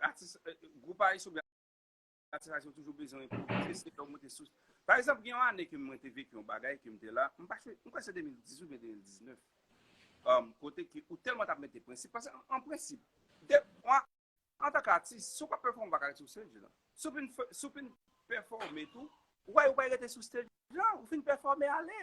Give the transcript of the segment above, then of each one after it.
Atis, gwoup ayisyen oubyen atis ayisyen toujou bezwen enpwovize, se lè ou monte sou. Pa egzanp, gen yon ane ke mwen te vek yon bagay ke m te la, m pa chwe, m kwè se 2018 oubyen 2019, um, kote ke ou tèlman t ap mete prensip, paske an prensip, de, an, antan ke atis, si w pa pèfòme ou pa ka ret sou stage lan. Si w fin, si w fin pèfòme tou, ou wè yo bay rete sou stage lan, ou fin pèfòme ale.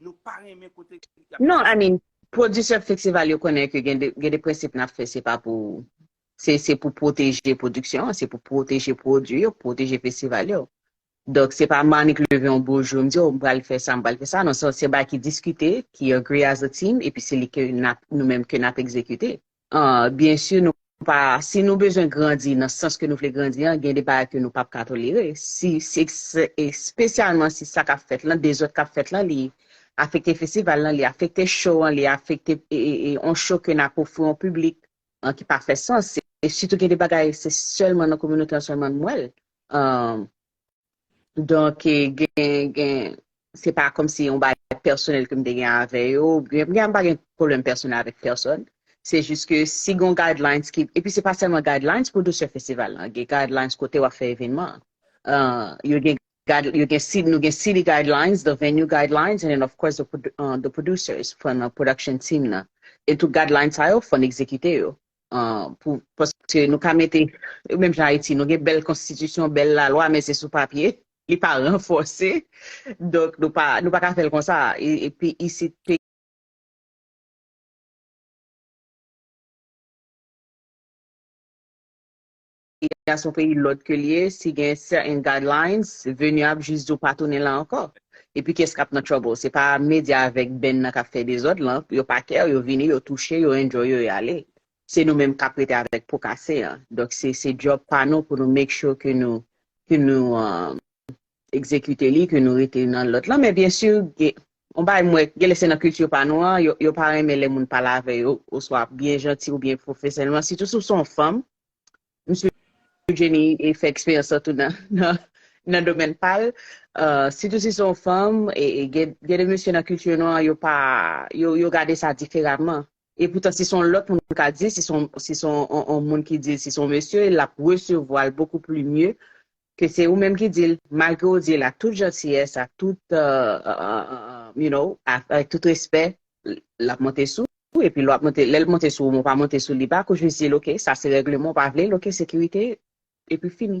Nou pa renmen kote yap Non I mean producer festival yo konnen ke gen de gen de prensip nap fè se pa pou se se pou pwoteje production an se pou pwoteje pwodwi yo pwoteje festival yo donk se pa Manick leve yon beau jour m di oh m pral fè sa m pral fè sa non se yon bagay ki diskite ki agree as a team epi se li ke nap nou menm ke nap egzekite. Byen si nou pa, si nou bezwen grandi nan sans ke nou vle grandi an, gen de bagay ke nou pap ka tolere, si se espesyalman si sa kap fèt lan, dezòd kap fèt lan li afekte festival lan, li afekte show an, li afekte yon show ke nap ofri yon piblik ki pa fè sans, e sitou gen de bagay se sèlman nan kominote an sèlman nou wèl. Donk, gen, se pa kòm si yon bagay pèsonèl ke m te gen avè yo, byen m pa gen pwoblèm pèsonèl avèk pèsòn, se jis ke si gen yon guidelines ki, epi se pa sèlman guidelines pou Douceur Festival lan, gen guidelines kote w ap fè evènman an. Yo gen, yo gen, nou gen city guidelines, the venue guidelines, and then of course the producers, fò nan production team nan. E tout guidelines sa yo, fò n egzekite yo. pou paske nou ka mete menm jan Ayiti nou gen bèl konstitisyon bèl lalwa men se sou papye li pa ranfòse donk nou pa nou pa ka fèl konsa epi isit peyi a son peyi lòd ke li ye si gen certain guidelines venu ap jis di w pa tounen la ankò epi kiyès kap nan trouble se pa media avèk band nan kap fè dezòd lan yo pa care yo vini yo touche yo enjoy yo yo ale se nou menm kap rete avèk po kase an donk se se job pa nou pou nou make sure ke nou ke nou execute li ke nou rete nan lòd lan men byen sur gen yon bagay m wè gen lè se nan culture pa nou an yo yo pa renmen lè moun pale avè yo oswa byen janti oubyen profesyonèlman sitou si w son fanm Msye Jenny fè eksperyans lan tou nan domèn pa l. Sitou si se yon fanm, gen de mesye nan kilti nwa an, yo gade sa diferaman. E poutan si se yon lòt moun ka di l, si se yon moun ki di l, si se yon mesye, l ap resevwa l bokou pli mye ke se ou menm ki di l, malgre ou di l ak tout jantiyès, ak tout, you know, avèk tout respè, l ap monte sou ou, epi lè w ap monte, lè l monte sou ou men w pa monte sou li bak, ou jis di l ok, sa se règleman, ou pa vle l, ok, sekirite, epi fini.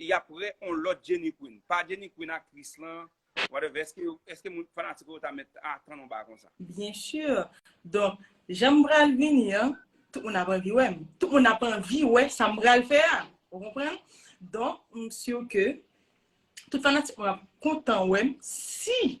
yap prè on lòt Jenny Queen pa Jenny Queen aktris lan whatever eske moun fanatik ou yo ta mèt atann on bagay konsa. Bien sûr donk jan m pral vini an tout moun ap anvi wè m tout moun ap anvi wè sa m pral fè a ou konprann donk m sûr ke tout fanatik mwen ap kontan wè m si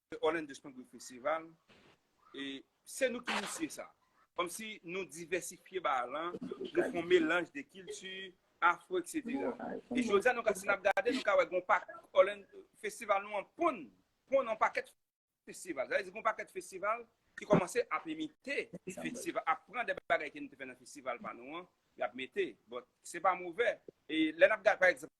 Se Orlando Spangwill Festival. E se nou ki inisye sa. Kom si nou divèsifye ba lan, nou fon melanj de kilti, afro, etc. E jodya nou ka si nap gade, nou ka wè gon pak Orlando, festival nou an ponn, ponn an pakèt festival. Sa vle di gon pakèt festival ki komanse ap imite festival, ap pran de bagay ke nou te fè nan festival pa nou an, yap mete. Bon, se pa movè. E lè nap gade pa egzanp.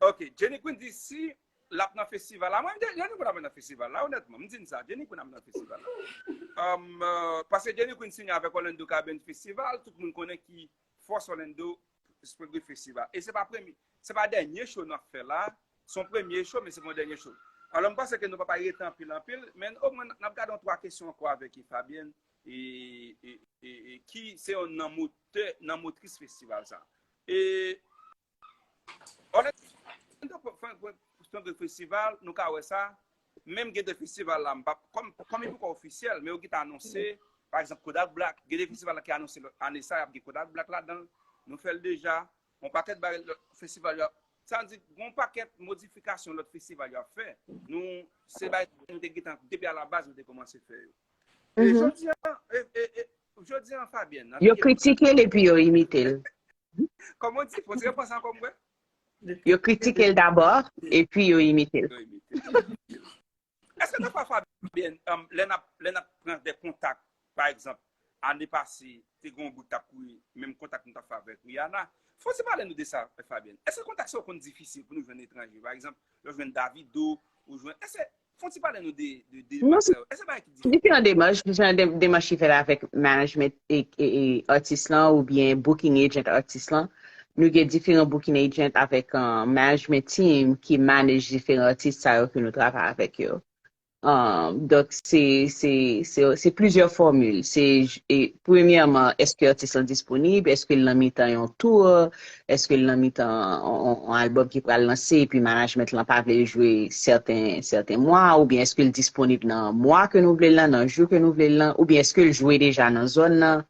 Ok, Jenny Queen di si lap nan festival la, mwen mte, Jenny Queen ap nan festival la, onètman, m di n sa, Jenny Queen ap nan festival la. Um, pase Jenny Queen signe avèk Orlando Cabin Festival, tout moun konnen ki fòs Orlando Spring Festival. E se pa premye, se pa dènye show nap fè la, son premye show, men se pon dènye show. Alò m panse ke nou pa pa rete anpil anpil, men o mwen nap gade yon 3 kesyon ankò avèk e Fabienne, e, e, e, e, ki se yon nan motè, nan motris festival sa. E Orlando Funk Funk Funk Festival nou ka wè sa, menm gen 2 festival la m pa kòm kòm li poko ofisyèl men yo gin anonse pa egzanp Kodak Black gen 2 festival la ki anonse ane sa ap gen Kodak Black ladan l nou fè l deja yon pakèt bagay lòt festival yo ap sa vle di gen yon pakèt modifikasyon lòt festival yo ap fè nou se bagay nou te gin tan depi a la baz nou te kòmanse fè yo e jodi a e e e Jodi an Fabienne nan Yo kritike l epi yo imite l. Kòman w di? Fon ti repons ankò m wè. Yo kritike l dabò epi yo imite l. Eske nan pa Fabienne lè nap lè nap pran de kontak pa egzanp ane pase te gen yon bout tap kouri menm kontak nou tap fè avèk Rihanna fon ti pale nou de sa Fabienne eske kontak sa yo konn difisil pou nou jwenn etranje pa egzanp lè w jwenn Davido ou jwenn eske Fon ti pale nou de demach sa yo. Eske bagay ki diferan? Diferan demach, diferan demach ki fèt avèk management atis lan ou byen booking agent atis lan. Nou gen diferan booking agent avèk management team ki manage diferan atis sa yo ke nou travay avèk yo. Donk se plizyè formule. Se premyèman eske atis lan disponib, eske l nan mitan yon tour, Eske l nan mitan on album ki pral lanse epi management lan pa vle l jwe sèten mwa oubyen eske l disponib nan mwa ke nou vle l lan, nan jou ke nou vle l lan oubyen eske l jwe deja nan zòn nan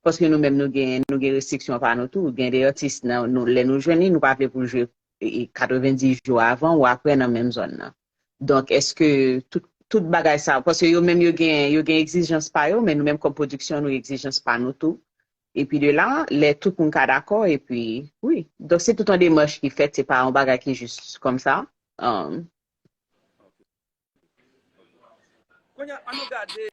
paske nou menm nou gen nou gen restriksyon pa nou tou gen de atis lè nou jwenn li nou pa vle pou l jwe 90 jou avan ou aprè nan menm zòn nan donk eske tout bagay sa paske yo menm yo gen yo gen egzijans pa yo men nou menm kòm pwodiksyon nou egzijans pa nou tou Epi de la, lè tout moun ka dakò, epi, wi. Donk se tout yon demach ki fèt, se pa yon bagay ki jis kòm sa. Kounye a, annou gade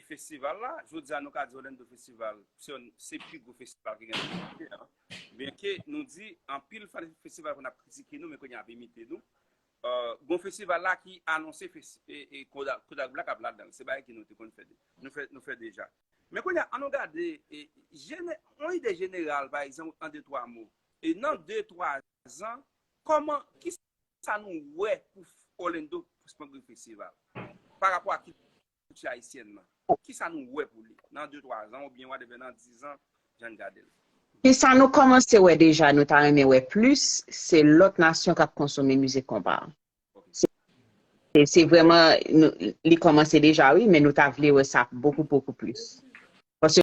festival la. Jodi a, nou ka di Orlando Festival se pi gwo festival ki gen nan mond antye a. Byenke nou di anpil fanatik festival konn ap kritike nou, men kounye a ap imite nou. Gon festival la ki anonse Kodak Black ap ladan l. Se bagay ki nou te konn fè, nou fè deja. Men kounye a, annou gade jene, yon ide jeneral, pa egzanp, an de twa mo. E nan de twa zan, kòman, ki sa nou wè pou Orlando Spangler Festival? Pa rapò a kilti ayisyèn nan. Ki sa nou wè pou li nan de twa zan oubyen whatever nan di zan, jan n gade l? Ki sa nou kòmanse wè deja nou ta renmen wè plis, se lòt nasyon k ap konsome mizik konpa? Se vreman, li komanse deja wi, men nou ta vle wè sa bokou bokou plis. Paske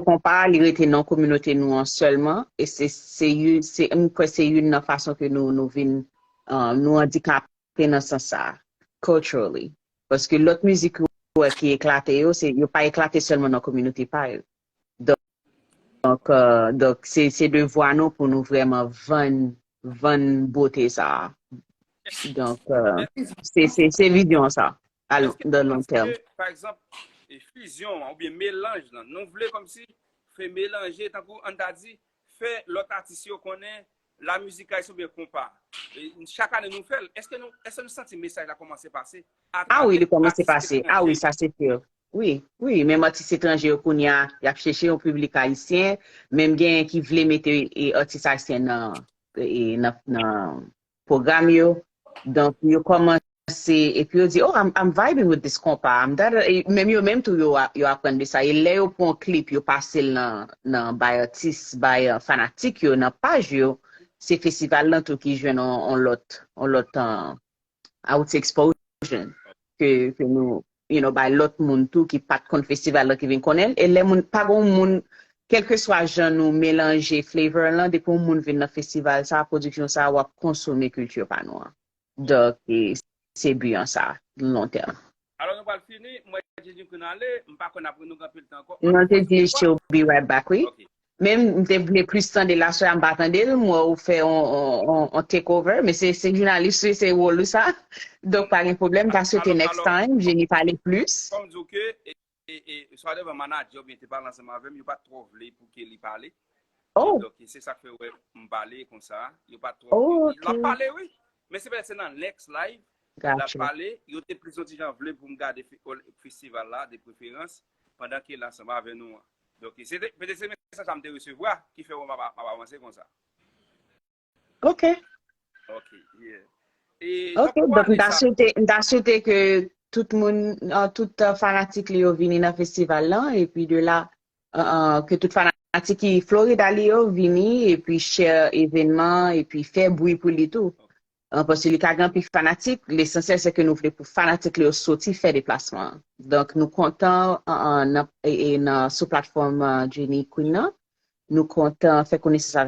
konpa a li rete nan kominote nou an sèlman, e se you, se m kwè se youn nan fason ke nou nou vin, nou andikape nan sans sa a, culturally. Paske lòt mizik ou wè ki eklate yo, se yo pa eklate sèlman nan kominote pa yo. Donk se devwa nou pou nou vreman vann bote sa a. Donk se vizyon sa a nan long tèm. Eske nou panse ke, pa egzanp, fizyon an oubyen melanj lan, nou vle kòmsi fè melanje tankou ann ta di fè lòt atis yo konnen La musique haïtienne oubyen konpa? Chak ane nou fèl. Eske nou, eske nou santi mesaj la kòmanse pase a Ah wi travè li kòmanse atis pase. Ah etranje wi yo? sa se sûr. Wi, wi menm atis etranje yo kounye a yap cheche yon piblik ayisyen, menm genyen ki vle mete atis ayisyen nan nan pwogram yo. Donk yo kòmanse. Se epi yo di oh I'm vibing with this konpa I'm da da da menm yo menm tou yo aprann de sa e lè yo pran yon klip yo pase l nan bay atis bay fanatik yo nan paj yo se festival lan tou ki jwenn yon lòt yon lòt I would say exposure ke nou you know bay lòt moun tou ki pat konn festival lan ki vin konnen l e lè moun pa gen yon moun kèlkeswa jan nou melanje flavor lan depi yon moun vin nan festival sa production sa wap konsome kilti pa nou an. Dok se but an sa long terme. Alò nou pral fini, m wè Jejin Queen ale, m pa kwè nap re nou gen anpil tan ankò, Non te di she'll be right back wi. Ok. Men m te vle plis tande l aswè a m pa tande l, m wè ou fè on take over, men se jounalis ou ye se wol ou sa, donk pa gen pwoblèm, m ta swete next time Jeni pale plis. Fòm di w ke E swadevant manadjè oubyen te pale ansanm avèm yo pat twò vle pou Kelly pale. Oh. Ki bloke. Se sak fè ou wè m pale konsa. Yo pat twò vle. Oh, ok. Lap pale wi. Men se pètèt se nan next live Got lap you. pale. Yo te plis yon ti jan vle pou m gade fe, ol, festival la de preferans pandan Kelly ansanm avè nou an. Donk se te, petèt se mesaj sa m te resevwa ki fè ou wè m ap, m ap avanse konsa. Ok. Ok, yeah. E nan Ok, pou donk m ane ta sa, swete, m ta swete ke tout moun, an, tout uh, fanatik li yo vini nan festival lan, epi de la, an, an, ke tout fanatik ki Florida li yo vini, epi share evenman, epi fè bwi pou li tou. ok, An, paske li ka gen anpil fanatik, lesansyèl se ke nou vle pou fanatik li yo soti fè deplasman an. Donk nou kontan, an, an, nan, e, e, nan, sou platfòm uh, Jenny Queen nan, nou kontan fè konesans avèk